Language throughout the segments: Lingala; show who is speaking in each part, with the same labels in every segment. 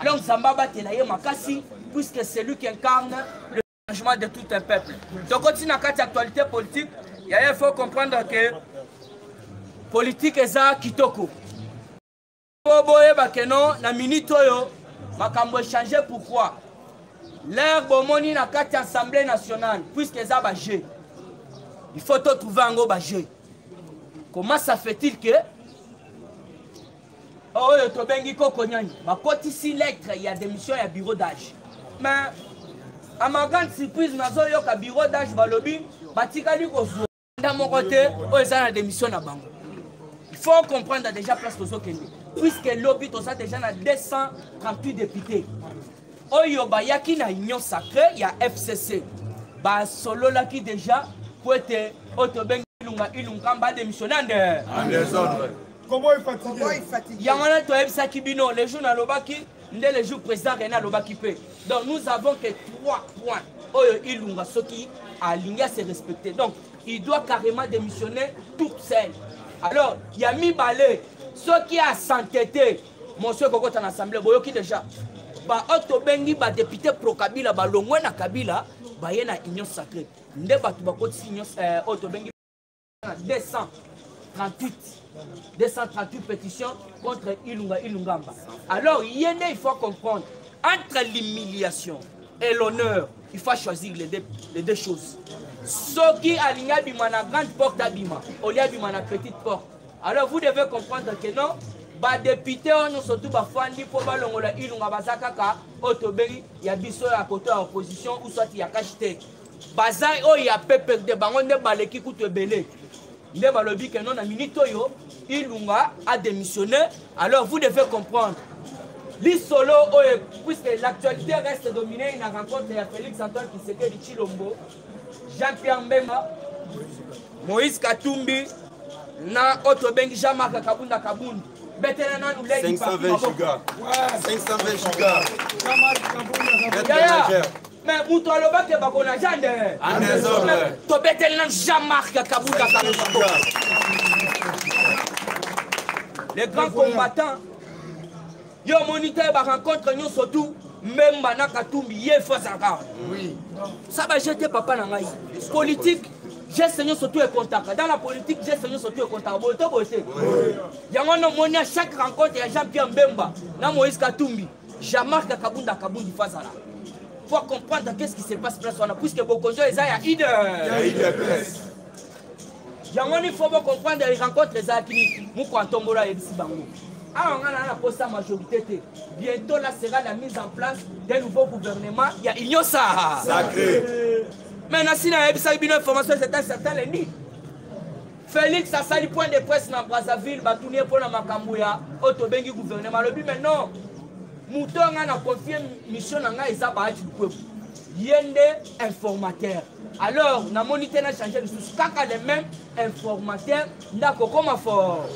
Speaker 1: longue zamba abatela ye makasi puisque celui qui incarne le changement de tout un peuple tokoti na kati actualité politique yaye faut comprendre que politique eza kitoko po boyeba ke no na minute oyo makambo echange pourquoi lere bomoni na kati ya assemblée nationale puisque eza bajeu il faut totrouve yango bajeu comment ça fait-il que oyo tobengi koko nyani bakotisi lettre ya démission ya bureau d'age mais à ma grande surprise nazoyoka bureau d'age balobi batikali kozwa nda moko te oyo eza na démission na bango faut comprendre déjà place tozokende puisque lobi toza déjà na 238 député oyo bayaki na union sacré ya fcc basololaki déjà mpo ete oyo tobengi ilunga ilunkamba adémissionne ande Cowboy
Speaker 2: fatigué. Yango wana toyebisaki
Speaker 1: bino le jour nalobaki nde le jour président René alobaki mpe. Donc nous avons que trois points oyo ilunga soki alingi à se respecter. Donc il doit carrément démissionner toute seule. Alors ya mibale soki asante te mosu ekokota na assemblée boyoki déjà baoyo tobengi badepute pro kabila balongwe na kabila baye na union sacrée nde bato bakotisi union euh, oyo tobengi 200 38 238 pétition contre Ilunga Ilungamba. Alors, Yéné, il faut comprendre, entre l'humiliation et l'honneur, il faut choisir les deux, les deux choses. Ce qui a abima na grande porte abima, au lieu abima na petite porte. Alors vous devez comprendre que non, ba député on surtout ba fandi pour ba longola ilunga bazakaka otobeli ya biso ya côté opposition ou soit ya cache baza oyo ya pprd bango nde baleki kutu ebele nde balobi ke no na minute oyo ilunga a démissionné alors vous devez comprendre lisolo oyo puisque l'actualité reste dominée na rencontre ya félix antoine kisekedi chilombo jean pierre mbemba moïse katumbi na oyo tobengi jean marc kabunda kabundi betela nanu lei 520
Speaker 3: giga 520 giga
Speaker 1: Mais mutu aloba ke bako na jande. En désordre. To beteli na Jean-Marc Kabuka Kabuka. Les grands combattants. Yo moniteur ba rencontre nyonso tout Mbemba na Katumbi ye fo azalaka. Oui. Ça ba jeter papa na ngai. Politique geste nyonso to ekontaka dans la politique geste nyonso to ekontaka boye to boye te yango wana omoni ya chaque rencontre ya jean pierre mbemba na moïse katumbi Jean-Marc Kabunda Kabundi Fazala. Faut comprendre qu'est-ce qui se passe place wana puisque Bokonjo eza ya Ide. Ya Ide Press. yango nini fo bocomprendre rencontre ezalaki nini moko atombola ayebisi bango awa ngai naa naposa majorité te bientôt la sera la mise en place d'un nouveau gouvernement ya union sahara sacré mais nasi nayebisaki bino information certain certain lendi Felix asali point de presse na Brazzaville batuni ye mpo na makambo ya oyo tobengi gouvernement alobi mais non moto oyo ngai na confie mission na ngai eza bahati lukwebo ye nde informateur alors namoni te na change lisusu kaka le même informateur nde akokoma fort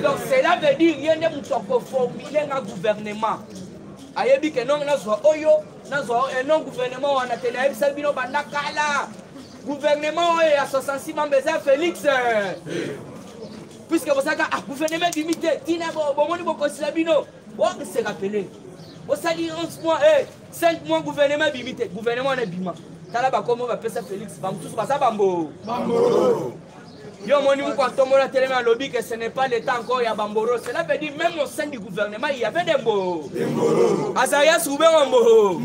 Speaker 1: donc cela veut dire ye nde moto akoformule nga gouvernement ayebi ke nonge nazwa oyo nazwa oyo enon gouvernement wana te nayebisaki bino banda kala Gouvernement oyo ya 66 membres eza Felix. Puisque bosaka ah gouvernement ebimi te tina bomoni bokosi na bino. Wa se rappeler. Bosali 11 mois eh 5 mois gouvernement ebimi te. Gouvernement wana ebima. Tala bakomo bapesa Felix bamosusu baza bambo. Bambo. yo omoni moko atombola atelemi alobi que ce n'est pas le temps encore ya bamboro cela veut dire même au sein du gouvernement il y avait des mboro azarias ruben wa mboro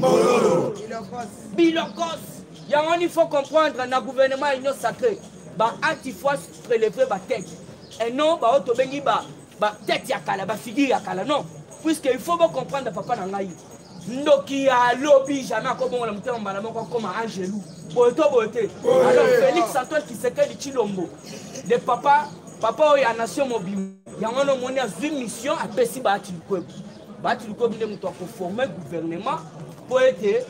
Speaker 1: bilokos yango wana il faut comprendre na gouvernement ya union sacré ba ati fois prélever ba tête et non baoyo tobengi ba ba tête ya kala ba figure ya kala non puisque il faut bocomprendre papa na ngai ndoki ya lobi jamais akobongola motema mbala moko akoma angelu boye to boye te alors félix antoine kisekedi chilombo de papa papa oyo ya nation mobimba yango wana omoni azwi mission apesi baati likwebo bati lukobi nde moto akoforme gouvernement mpo ete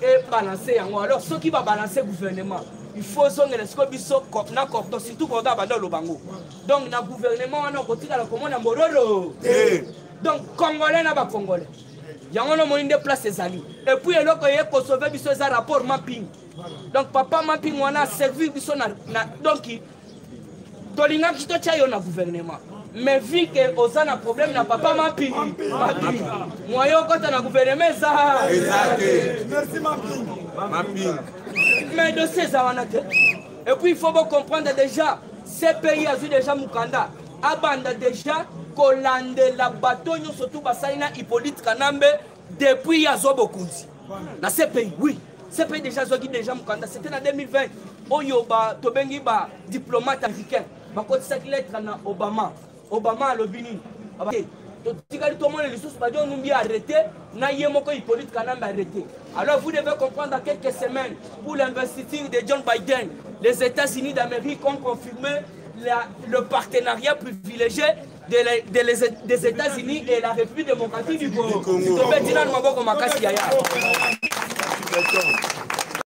Speaker 1: ebalanse yango alors soki babalanse gouvernement il faut ozongela sikoyo biso na corto surtout corto abanda oloba yango donc na gouvernement wana okotikala komona mororo eh. donc congolais na bacongolais yango na omoni nde place ezali epuis eloko eye kosove biso eza rapport mapping donc papa mapping wana aservir biso na, na donki tolingaki totya yo na gouvernement mais vu que oza na problème na papa mapi mapi moyen okota na gouvernement eza eza te merci
Speaker 2: mapi mapi mais
Speaker 1: dossier eza wana te et puis il faut bocomprendre déjà cpi azwi déjà mokanda abanda déjà kolandela bato nyonso tu basali na hippolyte kanambe depuis ya zobo kunzi na cpi oui cpi déjà azwaki déjà mokanda c'était na 2020 oyo ba tobengi ba diplomate africain bakotisaki lettre na obama obama alobi nini totikali tomona lisusu badio numbi arrete na ye moko hippolyte kanambe arrete alors vous devez comprendre dans quelques semaines pour l'investiture de john biden les états-unis d'amérique ont confirmé la, le partenariat privilégié de, la, de les, des États-Unis et la République démocratique du Congo. tobeti nanu maboko makasi yaya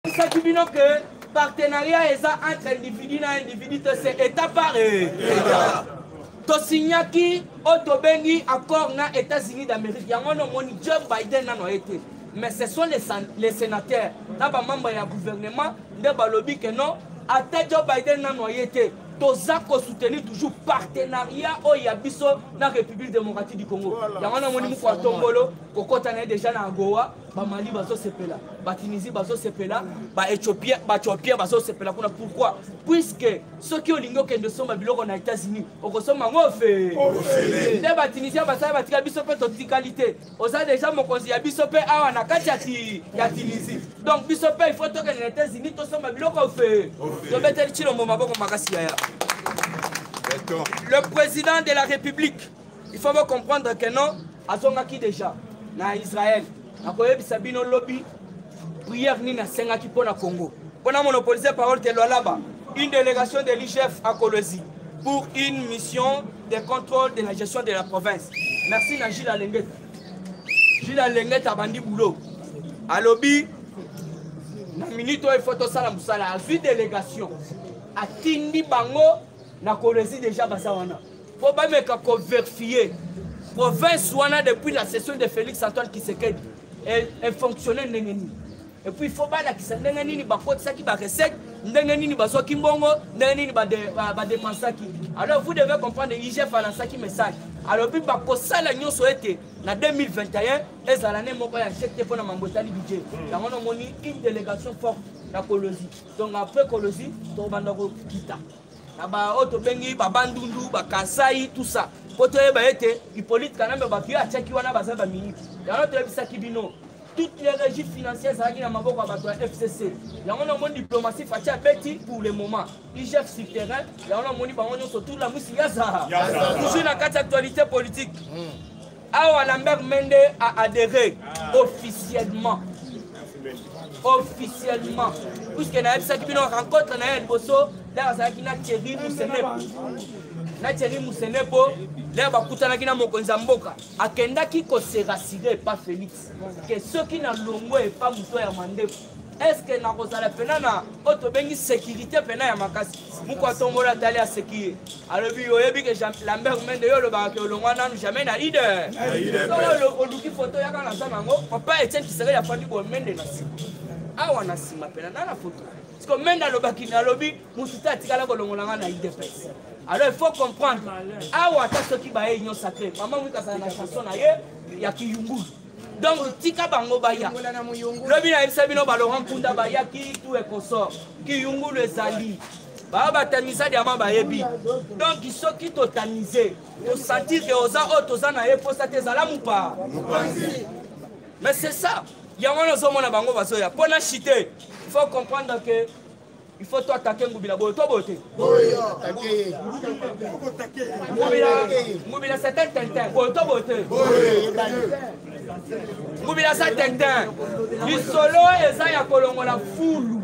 Speaker 1: esaki bino ke partenariat eza entre individu na individu te se état par état tosignaki oyo tobengi accord na états-unis d'amérique yango na omoni joe biden nano aye te mais ce sont les, les sénateurs na bamembre ya gouvernement nde balobi ke non ata joe biden nano aye te toza kosoutenir toujours partenariat oyo ya biso na république démocratique du congo yango wana moni moko ya tombolo kokɔta na ye déjà na agowa bamali bazosepela batunisie bazosepela baethiopien baethiopien bazosepela kuna pourquoi puisque soki olingi okende osomba biloko na états-unis okosomba yango ofele nde batunisien basala batika biso mpe totikali te oza deja mokonzi ya biso mpe awa na kati ya tunisie donc biso mpe ifo tokende na états-unis tosomba biloko ofe tobeteli cilombo maboko makasi yaya le président de la république il faut bocomprendre que non azongaki déjà na israël nakoyebisa bino lobi prière nini asengaki mpo na congo mpo na monopolise parole te lwalaba une délégation de l'igf à kolwezi pour une mission de contrôle de la gestion de la province merci na gile alengeta gile alengeta abandi boulot alobi na minute oyo ifo tosala mosala azwi délégation atindi bango na kolwezi déjà baza wana mpo bameka koverifie province wana depuis la session de félix antoine kisekedi efonctionne ndenge nini epuis fo balakisa ndenge nini bakotisaki barecette ndenge nini bazwaki mbongo ndenge nini badepensaki alors vous devez comprendre igf alansaki message alobi bakosala nyonso ete na 2021 ezala ne moko ya chek te mpo na mambo etali budget hmm. yango namoni une délégation forte na kolozi donc après kolozi tokobanda kokita na baoyo tobengi babandundu bakasai tout ça mpo toyeba ete hippolyte kanambe bato ye atiaki wana baza baminiti yango toyebisaki bino toutes les régies financières ezalaki na maboko ya bato ya fcc yango namoni diplomatie faci abeti pour le moment igf sur terrain yango namoni bango nyonso tour la mwisi yaza toujours na kati actualité politique mm. awa lambert mende a adhéré officiellement officiellement puiske nayebisaki bino rencontre na ye ya liboso lere azalaki na thierry musenepo na thierry musenepo lere bakutanaki na mokonzi ya mboka akendaki koserasire pa félix ke soki na longo epa moto ya mandefu eske nakozala mpena na oyo tobengi sekirite mpena ya makasi moko atombola atali aseki ye alobi oyebi ke lambert mende yo olobaka ke olongwa nanu jamais na ide oluki foto yaka naza nango papa etienne kisekeli afandi boye mende na nsima awa na nsima mpena na na foto siko mende alobaki nalobi mosusu te atikala kolongola nga na idps alors il faut comprendre awa ata soki baye union sacré mama mwika azala na chanson na ye ya kiyungulu donc tika bango baya lobi nayebisa bino balorant kunda bayaki tu ekosor kiyungulu ezali baa batamisa diama bayebi donc soki totamise tosentir ke oza oyo toza na ye mposa te ezala mopaa mais c'est ça yango wana ozomona bango bazoya mpo na chite faut comprendre que Il faut toi attaquer Ngubila boyo toi boyo te. Ngubila Ngubila c'est un tintin boyo toi boyo te. Ngubila c'est tintin. Lisolo eza ya kolongola fulu.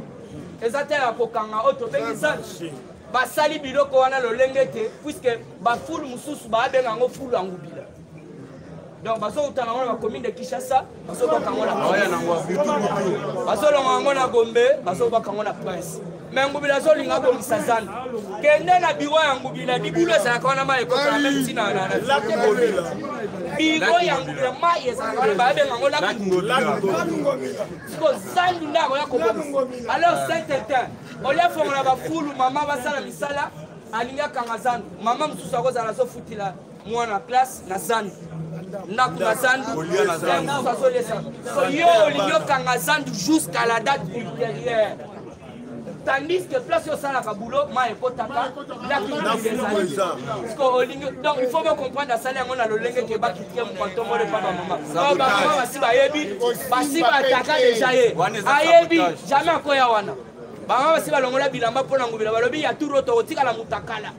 Speaker 1: Eza te ya kokanga oyo tobengi zanchi. basali biloko wana lolenge te puiske bafulu mosusu babenga yango fulu ya ngubila donc bazokutana yango na bacommune de kinshasa bazobwaka yango na bazolonga yango na gombe bazobwaka yango na prince me ngubila azolinga abongisa zando kende na biro ya ngubila libulu ezalaka wana mai ekokana meme ntina biro ya ngubila mai ezalaka wana bayabenga yango lakngobila zandu nde akoya kobongisa alors saint etin olia fongola bafulu mama basala misala alingi akanga zandu mama mosusu akozala azofutila mwana classe na zandu ndako na zandu musu azolesa so yo olingi okanga zandu jusqu'à la date ultérieure tandis que place osalaka boulot mai ekotaka lakiezaliolingi donc il faut bocomprendre asali yango na lolenge ke bakitike mopantomole mpa bamama bamama basi bayebi basi bataka deja ye ayebi jamais akoya wana bamama basi balongola bilamba mpo na ngobila balobi ya turo tokotikala motakala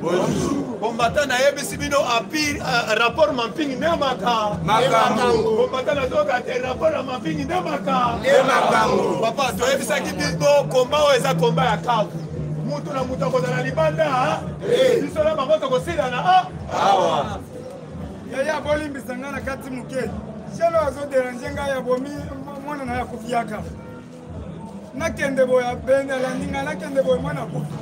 Speaker 3: Bombata na yebisi bino api euh, rapport mampingi nde maka makambo bombata na toyoka te rapport ya mampingi nde maka nde makambo papa toyebisaki bino komba oyo eza komba ya kavu mutu na mutu akozala libanda eh. biso na bango tokosilana ah. awa yaya
Speaker 4: bolimbisa ngai na kati moke jelo azoderange ngai ya bomi mwana na ya kofiaka nakende boye abeni alandi ngai nakende boye mwana akufi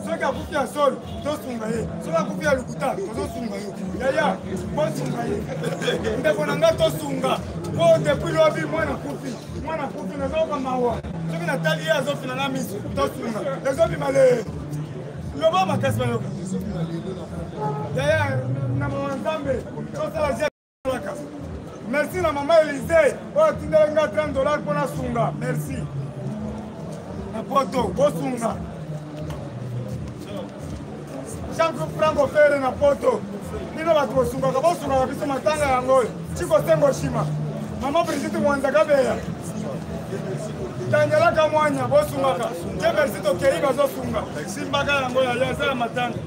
Speaker 4: soki akufi ya solo tosunga ye soki akufi ya lokuta tozosunga yo yaya bosunga ye ndeko na ngai tosunga po depuis lobi mwana akufi mwana akufi nazoyoka mawa soki natali ye azofina na miso tosunga ezobima le loba makasi bayoka yaya na mawa nzambe tosala merci na mama elise oyo atindela nga 30 dollar mpo nasunga merci na poto bosunga jean franco fere na poto bino bato bosungaka bosungaka biso matanga yango oyo cikosengo shima mama brigite mwanza kabeya tangelaka mwanya bosungaka te merci tokei bazosunga simbaka yango yaya eza ya matanga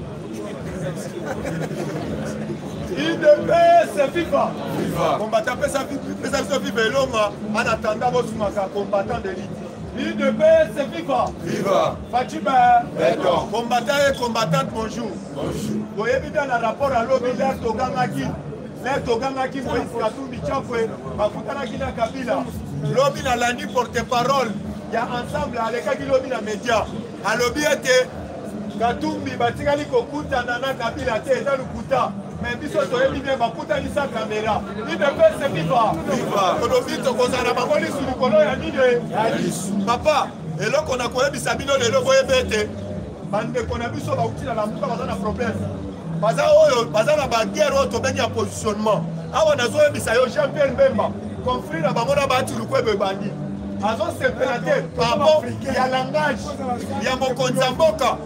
Speaker 3: idepese viva kombata pesa biso viva elonga ana tanda bosumaka combattant de lite idepese viva viva facibe beton combattant et combattante bonjour boyebi bien na rapport alobi lere togangaki lere togangaki moïse katumbi chakwe bakutanaki na kabila lobi nalandi porte parole ya ensemble alekaki lobi na média alobi ete Katumbi batikali kokutana na Kabila te eza lokuta mais biso toyebi bien bakutanisa kamera idepese viva tolobi tokozala bango lisu likolo ya nini papa eloko na koyebisa bino lelo boyebi ete bandeko na biso bauti na lamuka baza na problème baza oyo baza na baguerre oyo tobengi ya positionnement awa nazoyebisa yo jean pierre mbemba conflit na bango na batu lukwebo ebandi azosepela te pabo ya langage ya mokonzi ya mboka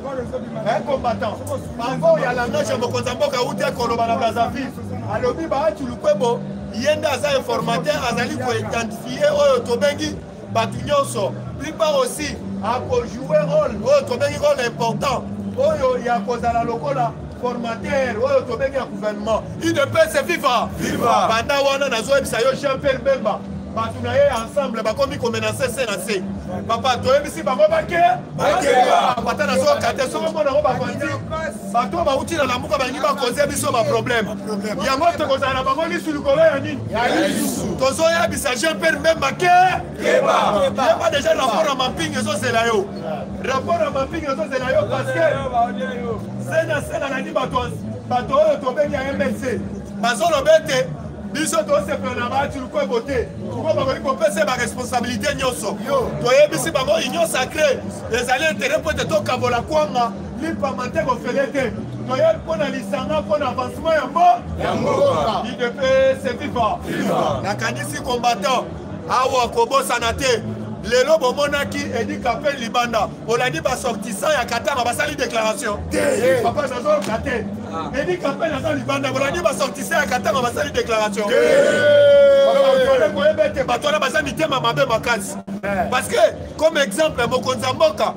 Speaker 3: eh, combattant pabo ya langage ya mokonzi ya mboka auti akoloba na brazzaville alobi baatu lukwebo ye nde aza informateur azali koidentifie oyo tobengi bato nyonso plupart aussi akojoue role oyo tobengi role important oyo ya kozala lokola formateur oyo tobengi ya gouvernement udps viva banda wana nazoyebisa yo jean pierre bemba bato na ye ensemble bakomi komenase se na se papa toyebisi bango bake bakeba ata nazoka te soko mpo nango bakonzi bato oyo bauti na lamuka balingi bakoze biso baproblème yango tokozala na bango lisu likolo ya nini tozoyebisa jean pierre mbemba ke yeba deja rapport ya mamping ezozela yo rapport ya mamping ezozela yo parce que sena sena nani bato oyo tobengi ya mlc bazoloba ete biso tosepela na bato lukwebo te tuko bakoki kopesa baresponsabilité nyonso toyebisi bango union sacré ezali intere mpo ete tokabola kwanga lipa mateko ofele te toye mpo na lisanga mpo na avancement ya mbo ya mboka idepese viva nakanisi combattant awa kobosana te lelo bomonaki edi kapel libanda olandi basortissant ya katanga basali déclaration te papa nazoyoka te ah. edi kapel aza libanda bolandi basortissant ya katanga basali déclaration koyeba ete bato wana baza mitema mabe makasi eh. parce que comme exemple mokonzi ya mboka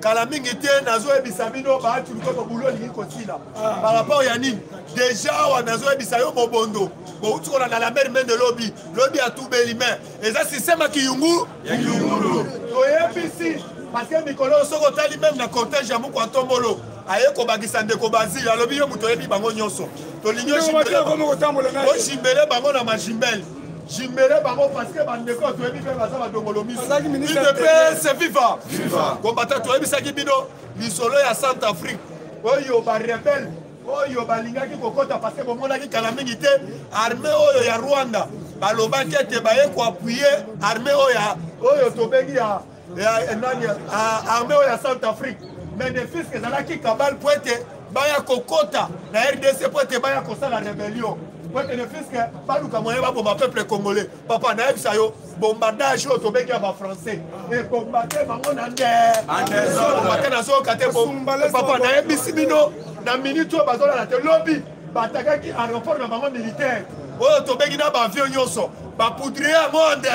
Speaker 3: kala mingi te nazoyebisa bino baatu likolo bulo olingi kosila ah. par rapport ya nini deja awa nazoyebisa yo mobondo bouti kolanda la mer mende lobi lobi atubeli me eza sisteme ya kiyungu toyebisi parceke mikolo oyo soki otali meme na cortège ya moko atombolo aye kobakisa ndeko bazili alobi yo moto oyebi bango nyonso tolingi ojimbele bango na majimbele jimbele bango parceke bandeko oyo toyebi mpe baza badongolo misoudps viva kombata toyebisaki bino lisolo ya centre afrique oyo barebele oyo balingaki kokɔta parceke bomonaki kala mingi te arme oyo ya rwanda balobaki ete baye koapuye arme oyo oyo tobengi ya eh, nani ah, arme oyo ya centre afrique mais de fiske ezalaki kabale mpo ete baya kokota na rdc mpo ete baya kosala rebellion mpo ete de fiske baluka moyen baboma peuple congolais papa nayebisa yo bombardage oyo tobengi ya bafrançais ebombade bango na ndeamate nazoyoka te papa nayebisi bino na minute oyo bazolala te lobi batakaki aeroport na bango militaire oyo tobeki na bavio nyonso bapoudrie ya monde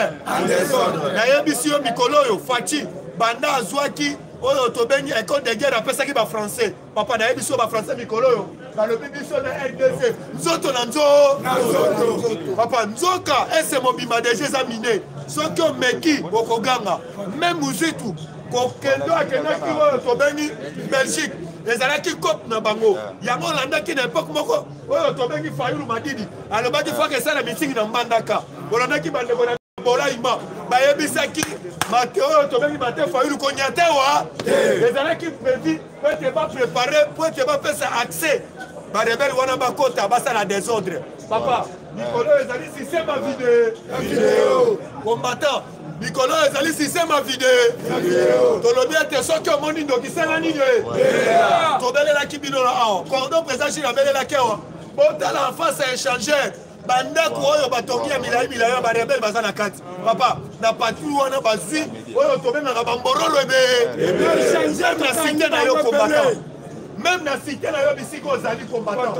Speaker 3: nayebisi yo mikolo oyo faci banda azwaki oyo tobengi ecole de guerre apesaki bafrançais papa nayebisi yo bafrançais mikolo oyo balobi biso na rdc nzoto na nzoto papa nzoka ese mobimba deja eza mine soki omeki okoganga me muzitu kokendo akendaki oyo tobengi belgique ezalaki cope na bango ah. yango olandaki na epoke moko oyo tobengi fayulu madidi alobaki faka esala mitingi na mbandaka olandaki bandeko na bolaima bayebisaki mate oyo tobengi mate fayulu konyatewa ezalaki predi po ete baprepare po ete bapesa accès barebele wana bakota basala desordre papa mikolo ezali sistema video combattant likolo oyo ezali sistema vide tolobi ete soki omoni ndoki sala nini tobelelaki bino na awa cordon président jile abelelaki awa botala en face ya échangeur bandako oyo batongi ya milai milai ya barebele baza na kati papa na patri wana bazwi oyo tobengaka bamborolo ebee na site na yo kombata meme na site na yo bisika ozali kombata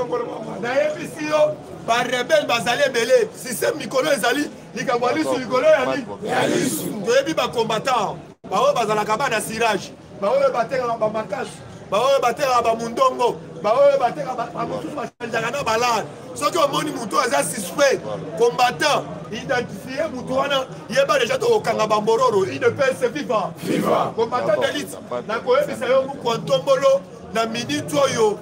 Speaker 3: nayebisi yo barebele bazali ebele systeme mikolo ezali likambo ya lisu likolo ya nini ya lisu toyebi bacombatant baoyo bazalaka bana sirage baoyo batekaka bamakasi baoyo batekaka bamundongo baoyo batekaka bamosusu bachanjaka na balare soki omoni motu aza suspect combatant identifie motu wana yeba deja tokokanga bambororo idps viva viva combatant delite nakoyebisa yo mokwa ntombolo na minute oyo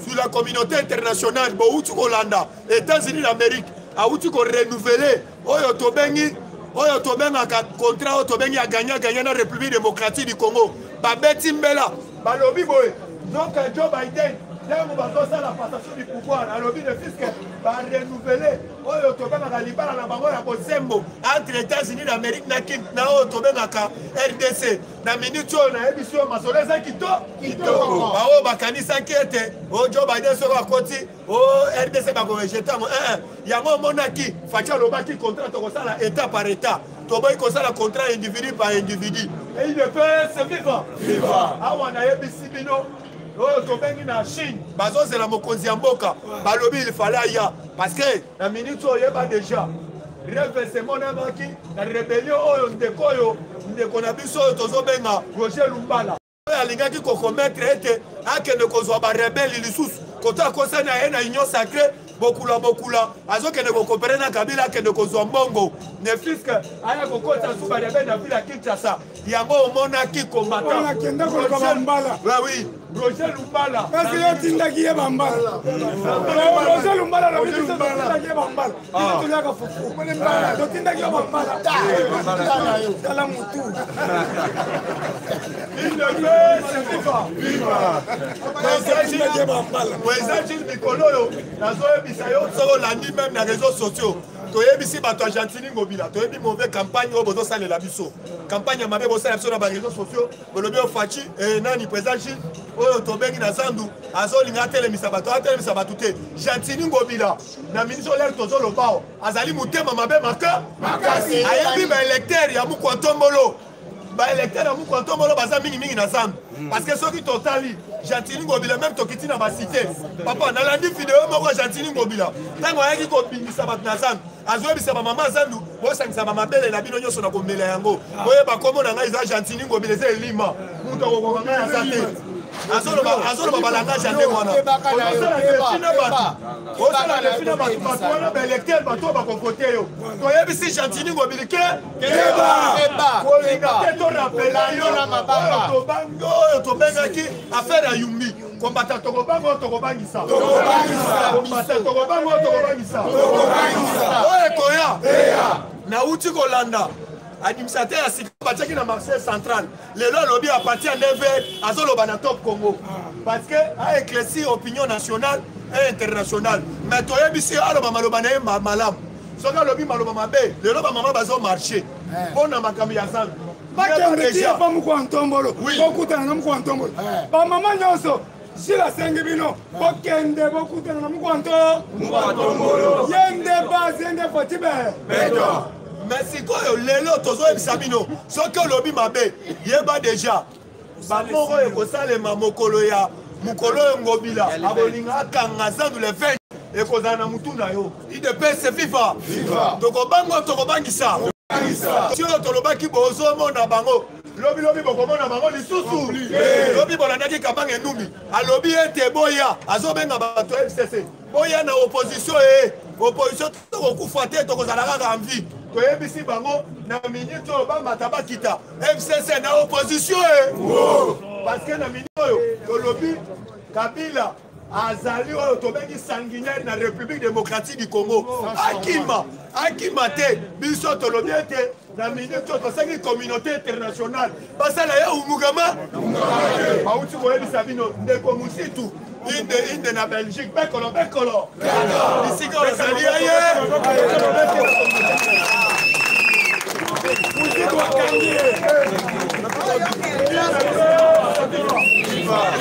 Speaker 3: sur la communauté internationale bowuti kolanda États-Unis d'Amérique awuti ko renouveler oyo tobengi oyo tobengaka contrat oyo tobengi ya gagnant gagnant na République démocratique du Congo babeti mbela balobi boye donc Joe Biden ntango bazosala passation du pouvoir alobi de fiske barenouvele oyo tobengaka libala na bango ya bosembo entre états-unis d'amérique na kin na oyo tobengaka rdc na minute oyo nayebisi oyo masolo eza kitoko baoyo bakanisaki ete ojo oh, biden soko akoti o oh, rdc bakorejete yango eh, eh. yango omonaki faci alobaki contrat tokosala état par état toboyi kosala contrat individu par individu eidps eh, viva viva awa nayebisi bino oyo tobengi na chine bazozela mokonzi ya mboka balobi il fale aya parce que na minute oyo oyeba déjà revese emonamaki na rebellion oyo ndeko oyo ndeko na biso oyo tozobenga roger lumbala oyo alingaki kokometre ete akende kozwa barebeli lisusu koto akosani aye na union sacré bokula bokula azokende kokopere na kabila akende kozwa mbongo ne fiske aya kokotisa su barebeli na vile ya kinshasa yango omonaki kombataakendakokabambalawi
Speaker 4: roger
Speaker 3: lumbala esi yotindaki
Speaker 4: ye bambala roger lumbala lobi biso totindaki ye bambala bino toyaka fufu
Speaker 3: totindaki yo mambala tala mutu eza jil mikolo oyo nazoyebisa yo soki olandi meme na réseau sociaux toyebisi bato ya gentini ngobila toyebi mauvais campagne oyo bozosalela biso campagne ya mabe bosalela biso na bareseau sociaux bolobi oyo faci e nani président gile oyo tobengi na zandu azolinga atelemisa bato atelemisa bato te gentini ngobila na ministre olere tozolobao azali motema mabe makasi ayebi baelecteur ya mokwa ntombolo baelecteur ya mokwa ntombolo baza mingimingi na zamba hmm. parce que soki totali gentini ngobila meme tokiti na basite papa nalandi video moko ya gentini ngobila ntango ayaki kobimisa bato na zamba azoyebisa bamama zandu bosangisa bamabele na bino nyonso na komela yango boyeba nkombo na ngai eza gentini ngobila eza elima moto akokoka ngai aza te azoloba balangage ya ndenge wana osala defi na bato osala defi na bato bato wana baelecteur bato bakokote yo toyebisi gentini ngobili ke kolinga te torapela yo oyo tobengaki affaire ya yumbi kombata tokobanga oyo tokobangisa kombata tokobanga oyo tokobangisa oyo ekoya nauti kolanda administrateur ya sika batiaki na marché central lelo alobi à partir ya 9 heures azoloba na top congo parce que aeclairci opinion nationale et internationale mais toyebisi aloba maloba na ye malamu soki alobi maloba mabe lelo bamama bazo marche eh. mpo na makambo ya zando bakende ti ya
Speaker 4: ba moko ya ntombolo kokutana na moko ya ntombolo bamama nyonso Jules asengi bino bokende bokutana na mokwanto ye nde base ye nde fotibe
Speaker 3: me sikoyo lelo tozoyebisa bino soki olobi mabe yeba deja bamoko oyo ekosalema mokolo ya mokolo oyo ngobila akolinga akanga zandu le 20 ekozala na motu na yo idps viva tokobanga tokobangisa oyo tolobaki bozomona bango lobi lobi bokomona bango lisusu lobi bolandaki kabanga enumbi alobi ete boya azobenga bato ya fcc boya na opposition e eh. opposition tokokufa te tokozala kaka envie toyebisi bango na minute oyo bamata bakita fcc na opposition e eh. parce que na minute oyo tolobi kabila azali oyo tobengi sanguinaire na république démocratique du congo akima akima te biso tolobi ete na minute oyo tosengi communauté internationale basala ye umugama bauti koyebisa bino ndeko musitu inde inde na belgique bekolo bekolo bisika ozali aye musitu akangi ye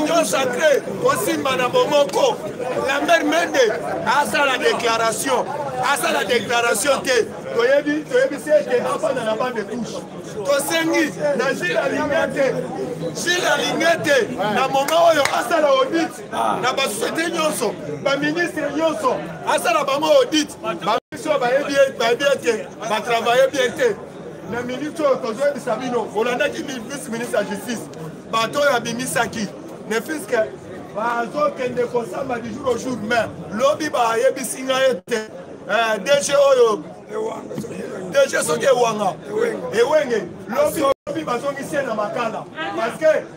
Speaker 3: union sacré osimba na bomoko lambert mende asala déclaration asala déclaration te toyebi toyebisi ete afanda na bande touche tosengi na jile alinge te jile alinge te na moma oyo asala audit na basosiete nyonso baministre nyonso asala bango audit bayebi ete batravaille bien te na miniti oyo tozoyebisa bino bolandaki vice ministre ya justice bato oyo abimisaki ne fiske bazokende kosamba du jour au jour mais lobi bayebisi ngai ete eh, dg oyo dg soki ewanga ewenge lobi bazongisi ye na makala parce que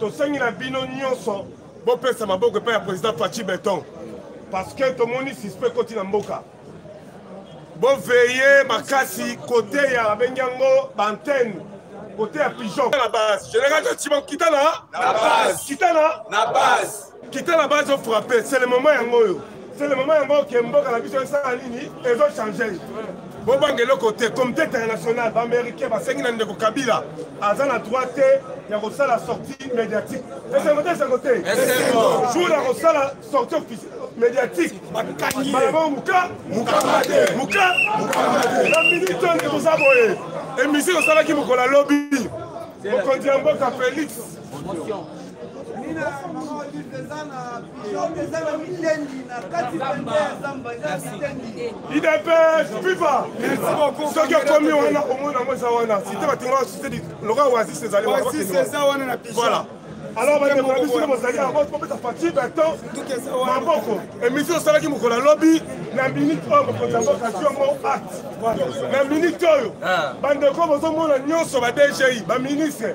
Speaker 3: tosengi na bino nyonso bopesa maboko epai ya président faci beton parce que tomoni suspect ekoti na mboka boveye makasi kote ya babengi yango baantene kote ya pigeon na base général jaciman kita na kita na base kita na bazo frappe c'est le moment yango oyo c'est le moment yango oke mboka na biso esala nini ezo change bobanga eloko te comité international baaméricain basengi na ndeko kabila aza na droit te ya kosala sortie médiatique esengo te esengo te jour ya kosala sortie médiatique balabao muka muka na minute oyo nde toza boye emission osalaki mokolo alobi mokonzi ya mboka félix idps viva soki okomi wana omoni yango eza wana site batinga site lokola oasis ezali voilà alors bandeko na biso bozali yango topesa fati beton maboko emission osalaki mokolo alobi na minute oyo mokonzi ya mboka tiongo acte na minute oyo bandeko bozomona nyonso ba dgi baministre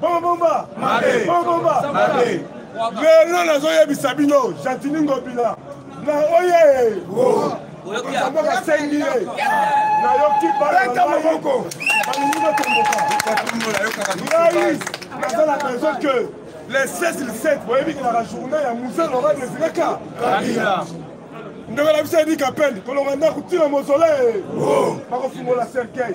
Speaker 3: bobomba bobomba lelo nazoyebisa bino gentini ngobila na oye oyokiaboka sengi ye nayoki baleta maboko balingi batomboka ngai naza na besoin que les 16 le 7 boyebi kelaka journée ya musee lora desileka ndeko na biso edi kapende kolonga ndako ntina mozole bakofungola cercueil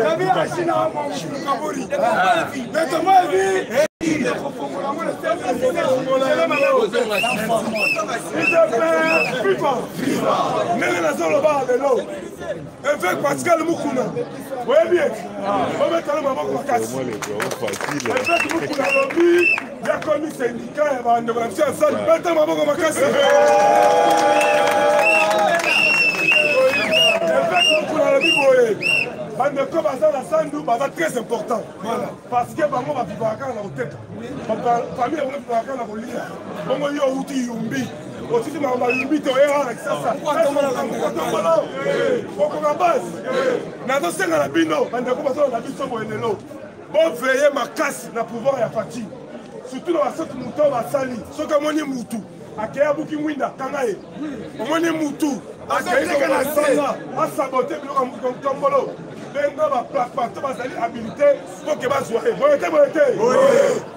Speaker 3: kabila ashina mokaburi ndenge nazoloba lelo Évêque Pascal Mukuna, oyebi ye obetala maboko makasi. Évêque Mukuna alobi yakomi sendika ya bandeko na biso ya sali beta maboko makasi. Évêque Mukuna alobi boye bandeko baza na sandu baza très important parce que bango bavivaka na koteka famille yango vivaka na kolia bongo yo outi yumbi otiki makambo balubi te oye wana kisasa okotombolo okoka basi nazosenga na bino bandeko bazolanda biso boye lelo boveye makasi na pouvoir ya fati surtout na basoti moto oyo basali soki amoni mutu akei abuki mwinda kanga ye omoni mutu akei kaka na sanga asabote biloko motombolo benga baplapato bazali habilite mpo ke bazwa ye boye te boye te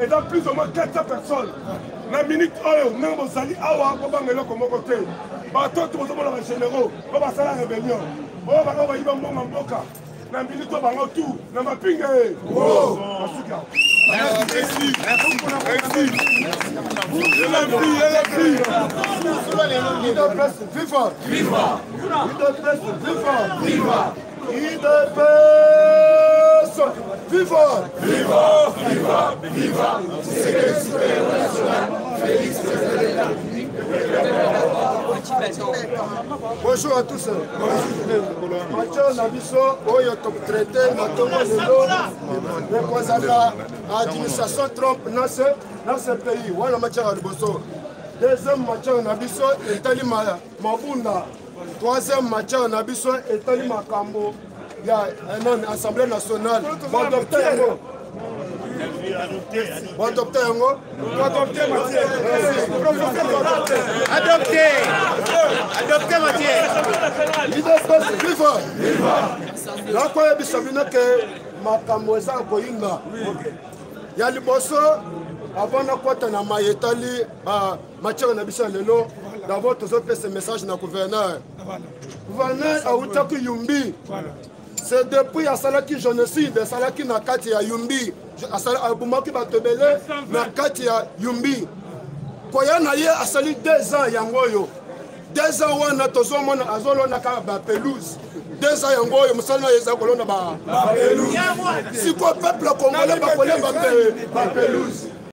Speaker 3: eza plus ou moins 400 personnes na minute oyo ndenge bozali awa bobanga eloko moko te bato oyo tozomona bagénéraux oyo basala rébellion oyo bango bayiba mbongo mboka na minute oyo bango tu na mapinga e basuki awa Viva! Viva! Viva! Viva!
Speaker 5: Idps viva viva viva viva secrétaire supérieur national Félix Tshisekedi Bonjour à tous. Bonjour na biso oyo totraite na tongo lelo ekozala administration Trump na ce pays wana matiaka liboso deuxième matière na biso etali mabunda troisième matière na biso etali makambo ya eh, nani assemblée nationale badokte yango badokte yango adopte
Speaker 3: adopte
Speaker 5: matière idps viva nakoyebisa bino ke makambo eza koyinda ya liboso avant nakota na mai etali matière na biso ya lelo d'abord tozopesa message na gouverneur gouverneur awutaki yumbi c'est depuis asalaki génocide asalaki na kati ya yumbi abomaki bato ebele na kati ya yumbi koya na ye asali deux ans yango oyo deux ans wana tozomona azolonaka bapelouse deux ans yango oyo mosala na ye eza kolona bapelouse sikoyo peuple congolais bakolemba mpe bapelouse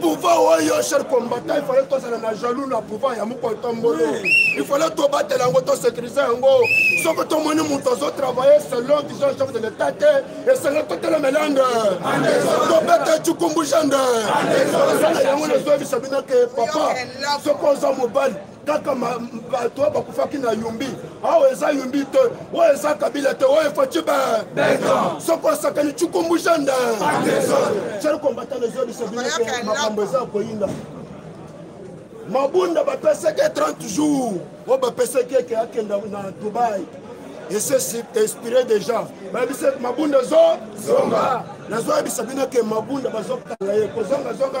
Speaker 5: pouvoir oyo cher combattant il fallait tozala na jaloux na pouvoir ya mokolo tombolo il fallait tobatela yango tosécurise yango soki tomoni moto azotravaille selon vision chef de l'état te esenge totelemela yande tobeta cikumbu jande esala yango nazoyebisa bino ke papa soki oza mobali kaka bato oyo bakufaki na yumbi awa eza yumbi te oyo eza kabila te oyo efaci be soko asakani cukumbusha nde sel kombatana ezobisa bino makambo eza koyinda mabunda bapesaki 30 jours oyo bapesaki eke akenda na dubai ese inspiré déjà bayebisa mabunda ezozonga nazoyebisa bino ke mabunda bazokanga ye kozongazonga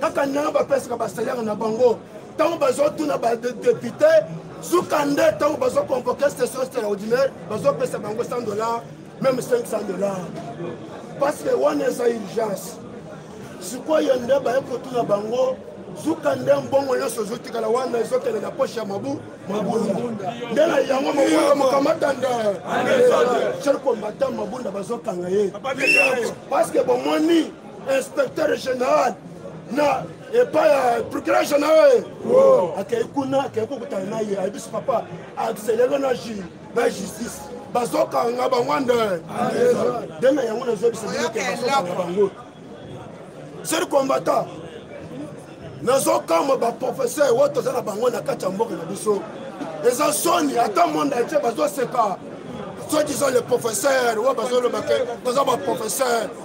Speaker 5: kaka ndenge bapesaka basalere na bango ntango bazotuna badepute suka nde ntango bazoconvoke station extraordinaire bazopesa bango 100 dollar meme 500 dollar parce que wana eza urgence sikoyo nde baye kotuna bango suka nde mbongo nyonso ezotikala wana ezokende na poshe ya mabu mabunda nde na yango mabunda mokamata nde cher combatant mabunda bazokanga ye parce que bomoni inspecteur général na epai ya procureur général akei kuna akei kokutana na ye ayebi biso papa accélere na ju na justice bazokanga bango nde nde na yango nazobisa bino ke bazokanga bango seri combattant nazokamba baprofesseur oyo toza na bango na kati ya mboka na biso eza soni ata monde atie bazoseka soki zo le professeur oyo bazolobake toza baprofesseur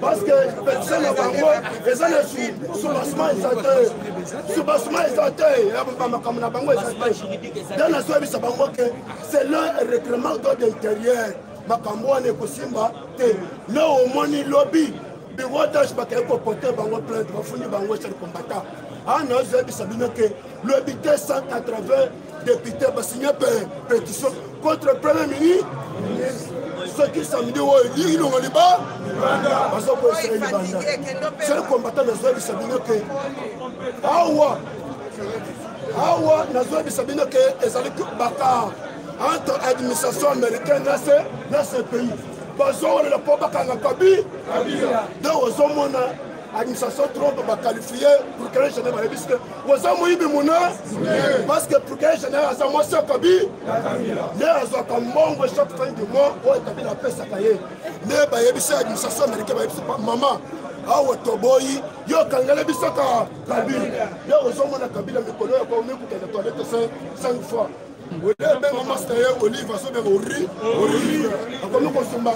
Speaker 5: parce que petition na bango eza na soubassement eza te soubassement eza te makambo na bango eza te da nazoyebisa bango ke c'est le règlement d'ordre intérieur makambo wana ekosimba te le omoni lobi biwotage bakei kopote bango plainte bafundi bango ecel combatant ana ozoyebisa bino ke lobi te 180 depute basigne petition contre premier ministre soki samedi oyo elingi longo liba bazokoyisa ye libanda sel combattant nazoyebisa bino ke awa awa nazoyebisa bino ke ezali bakar entre administration américaine na se na ce pays bazowelela mpo bakanga kabi donc ozomona administration trump baqualifie procureur général bayebi sike oza moyibi mona parce que procureur général aza mwasi ya kabi nde azwaka mbongo chaque fin du mois oyo kabila apesaka ye nde bayebisi administration américain bayebisi mama awa toboyi yo okangela biso ka kabila yo ozomona kabila mikolo ya komikokenda toilette 5 fois oye benga masta ye olive azobenga ori olive akomi kosumba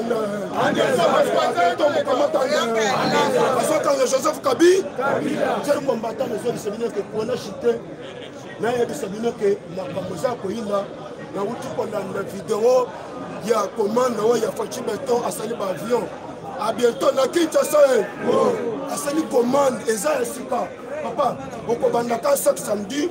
Speaker 5: azokanga joseph kabi jeri kombatana ezobisa bino ke pona chite nayebisa bino ke makambo eza koyina nauti kolanda video ya komanda oyo ya faci beton asali baavion a bientôt na kinshasa e asali commande eza ya sika papa okobandaka chaque samedi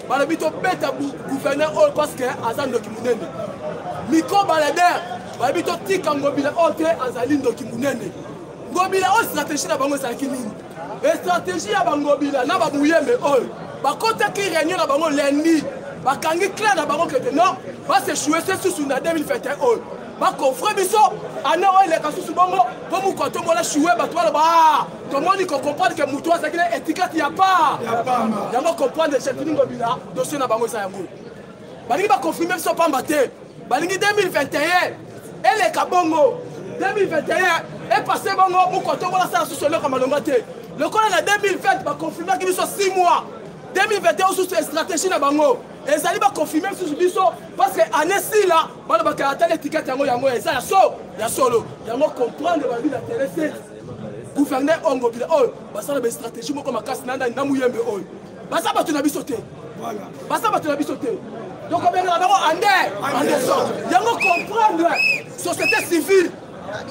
Speaker 1: balobi tobeta gouverneur oyo parce que aza ndoki monene miko balader balobi totika ngobila oyo te azali ndoki monene ngobila oyo stratégie na bango ezalaki nini estratégie ya bangobila na bamuyembe oyo bakotaki réunion na bango lundi bakangi clair na bango kete non basechoue se susu na 2021 oyo bakofre biso ana oyo eleka susu bongo mpo moko atombola shue bato baloba ah, tomoni kocomprendre ke motu azalaki na etikati ya pa yango comprendre chetini ngobila dosie na bango eza yango balingi baconfirme biso pamba te balingi 2021 eleka bongo 2021 epase bongo moko atombola sala susu eloko malonga te lokola na 2020 baconfirmaki biso 6 mois 2021 osusu estratégie na bango ezali baconfirme susu biso parce que année sila bana bakala atali etikete yango yango eza ya so ya solo yango comprendre babi na tele te gouverneur oyo ngobila oyo basala bastratégie moko makasi na ndani na muyembe oyo baza bato na biso te baza bato na biso te tokobengela bango ande andeson yango comprendre société civile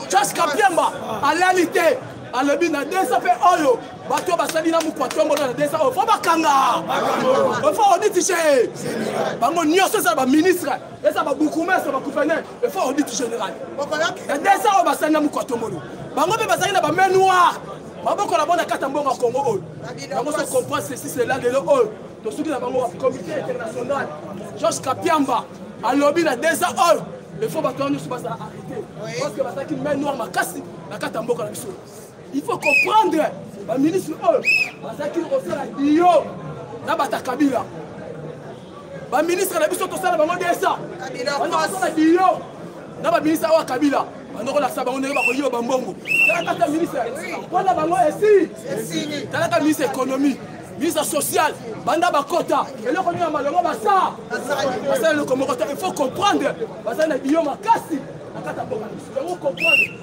Speaker 1: charge kapiamba alali te alobi na desa mpe oyo bato basali na mokwa tombolo na desa oyo fo bakanga fo oditise bango nyonso eza baministre eza babukumestre bagouverneur efo audit général ya desa oyo basali na mokoatomolo bango mpe bazali na bamain noire maboko na bona kata mbongo ya kongo oyo bango so comprendre ceci cela lelo oyo tosuki na bango comité international george kapiamba alobi na desa oyo efo bato wana nyonso bazala arrete parce que bazalaki main noire makasi na kati ya mboka na biso il faut comprendre baministre oyo bazalaki kosala dio na bata kabila baministre na biso tosala bango desa banda kosala dio na baministre oyo ya kabila bandokolakisa bango ndenge bakoyiba bambongo talaka ta ministre mpona bango esi talaka ministre économie ministre social banda bakota eloko nini ya malongo basa basala eloko moko te il faut comprendre bazali na biyo makasi na kati ya bokanisi yango comprendre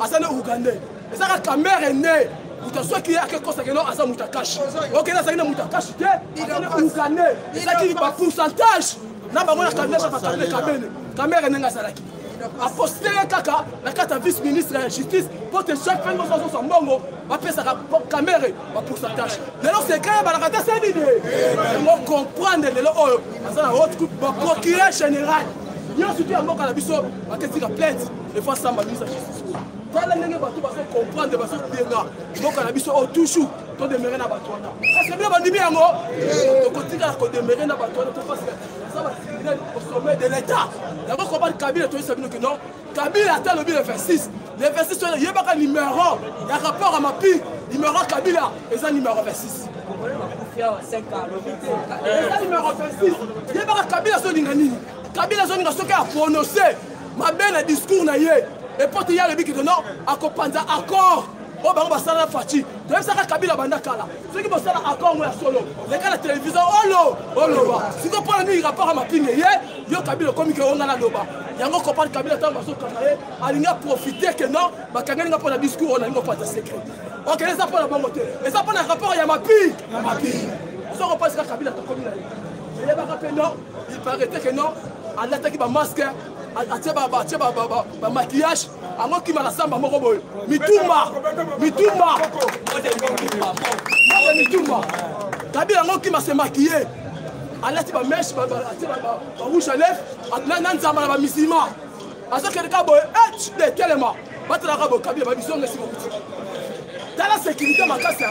Speaker 1: aza ne ougandais eza ka kamere ne moto azwaki ye akekosake no aza moto akashi okende azalaki na moto akashi te aza ne ougandais ezalaki ba pourcentage na bango na kabila sasa kabila kabene kamere ndenge azalaki aposte ye kaka na kati ya vice ministre ya justice mpo te chaque fin nyonso azosa mbongo bapesaka kamere ba pourcentage lelo sekre ebalaka te se nini yango comprendre lelo oyo aza na haute coupe ba procureur général nyonso tu ya mboka na biso baketika plainte efo asamba misa justice oyo tala ndenge bato bazokomprendre bazobenga mboka na biso oyo toujours todemere na bato wana parceke bino bandimi yango tokotikala kodemere na bato wana topasika eza bacriminel au sommet de l'état yango kobani kabila toyisa bino ke non kabila ata alobi le 26 le 26 wana yebaka numero ya rapport ya mapi numero ya kabila eza numero 26 eza numero
Speaker 6: 26 yebaka kabila azolinga nini kabila azolinga soki aprononce mabe na discours na ye epote ye alobi kito non akopanza accord oyo bango basala na faci toyebisaka kabila banda kala soki bosala accord yango ya solo leka na televizio olo oloba siko mpona nini rapport ya mapinge ye yo kabila okomi ke onga naloba yango kopane kabila ntango bazokanga ye alingi aprofite ke non bakangeli nga mpo na discours oyo nalingi opanza secret ok eza mpo na bango te eza mpo na rapport ya mapi ya mapi soko mpasika kabila tokomi na ye eyebaka mpe non Il paraît que non, alataki ba masque, atie ba ba ba ba ba maquillage, ango ki mara samba moko boye. Mitumba, mitumba. Mode mitumba. Kabi ango ki se maquiller. Alati ba mèche, ba ba atie ba ba rouge à lèvres, na nzamba na ba musulmans. Azokende ka boye, eh, telema. batalaka bokabi ya babisonga esika okuti tala sekirite makasi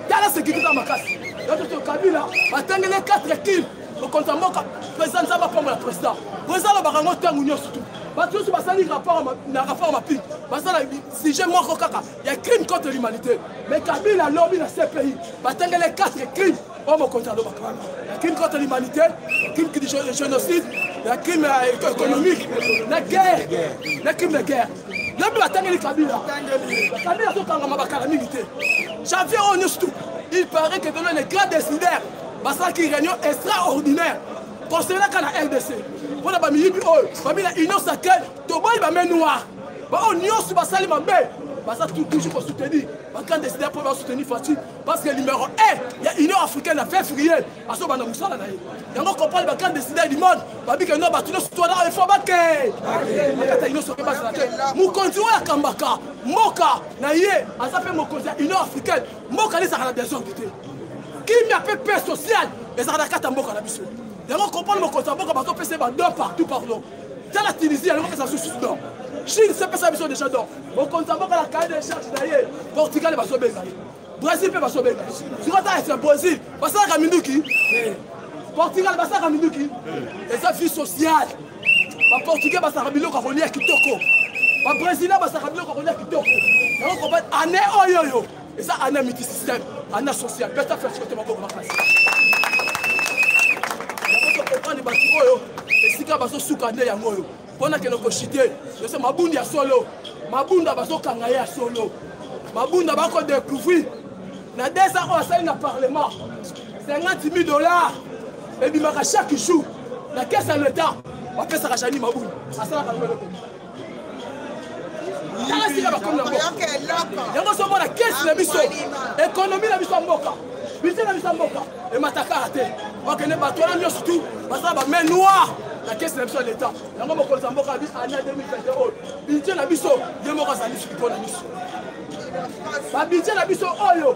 Speaker 6: tala sekirite makasi yatoto kabila batangele 4 kile mokonzi ya mboka président nzambe apambola président po eza lobaka yango ntango nyonso tu bato nyonso basali na rapport maping baza na sujet moko kaka ya crime contre l'humanité mais kabila lobi na cpi batangele 4 crime oyo mokonzi alobaka wana ya crime contre l'humanité ya crime de génocide ya crime euh, économique na guerre na crime de guerre nabi batangeli kabila kabila azokangama bakala mingi te janvier oyo nyonso tu il paraît que beno les grands décideurs basalaki réunion extraordinaire concernaka na rdc mpo na bamiyibi oyo bami na union sacrée toboyi bame noir baoyo nyonso basali mabe baza toujours kosoutenir bagrand décideur mpo basoutenir fatine parce que numéro 1 ya union africaine ya février azobanda mosala na ye yango kopale bakande deside du monde babike no bato nyonso twana oyo fo bake bakata nyonso mpe bazala te mokonzi oyo akambaka mboka na ye aza mpe mokonzi ya union africaine mboka lezaka na desordre te kimia mpe paix sociale ezaka na kati ya mboka na biso yango kopale mokonzi ya mboka bazopesa ye badon partout pardon tala tunisie yango pesa susu don chine sepesa biso deja don mokonzi ya mboka na kaye de charge na ye portugal bazobenga ye brésil mpe basobeli sikoyo ta ese brésil basalaka minduki portugal basalaka minduki eza vie sociale baportugais basalaka biloko ya kolia kitoko babrésilien basalaka biloko ya kolia kitoko yango koba ane oyo oyo eza ane ya miti système ane ya social mpe ta flashe te maboko makasi yango tokokani bato oyo esika bazosuka nde yango oyo mpo nakende koshite yoso mabundi ya solo mabunda bazokanga ye ya solo mabunda bakodecouvrir na 2 ans oyo asali na parlement 50 000 dollars ebimaka chaque jour na kese ya leta bapesaka jani mabunda asalaka lobeloko tala sika bakomi nango yango ozomona kese na biso ekonomi na biso ya mboka bise na biso ya mboka emataka te bakende bato wana nyonso tu baza ba main noir na kesi na biso ya leta yango mokonzi ya mboka abi ana 2021 oyo bidje na biso ye moko azali soki mpo na biso babidje na biso oyo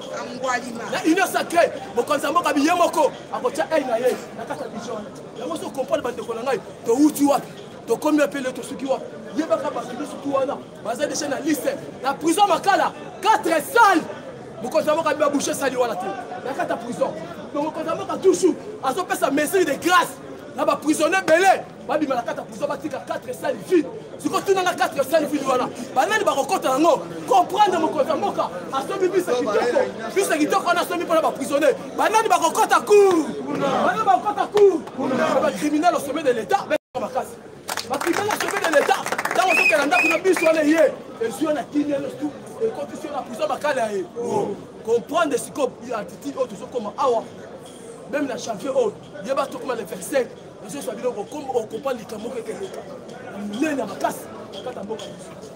Speaker 6: na union sacré mokonzi ya mboka biye moko akotya ei na ye na kati ya bidje wana yango so comprendre bandeko na ngai towuti wapi tokomi wapi ele tosuki wapi yebaka bato nyonso tu wana baza deja na liste na prison makala 4 sale mokonzi ya mboka biba bouche esali wana te na kati ya prison donc mokonzi ya mboka toujours azopesa mesure de grâce na baprisonnier ebele babima na kati ya prison batika 4 sale vide siko tunanga 4 sale vide wana banani bakokota yango comprendre mokonzi ya mboka asomi bisa kitoko bisa kitoko wana asomi mpona baprisonnier banani bakokota cour banani bakokota cour bacriminel au sommet de l'état makasi bakita na sebe de leta ntango azokela ndako na biso wana ye ezwi yo na kimia nyonso tu ekotisi yo na pusa makala ya ye comprendre sikoyo attitude oyo tozokoma awa meme na chantier oyo ye bato tokoma le 25 ezozwa biloko okomprendre likambo moko ekeleka monene ya makasi kata mboka biso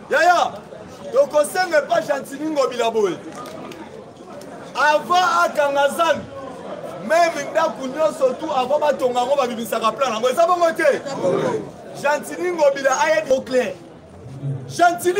Speaker 3: yaya tokosenga epa gentini ngobila boye avant akanga zanu meme ndako nyonso tu avant batonga yango babimisaka plan yango eza bongo te gentini ngobila ayebi au clair gentini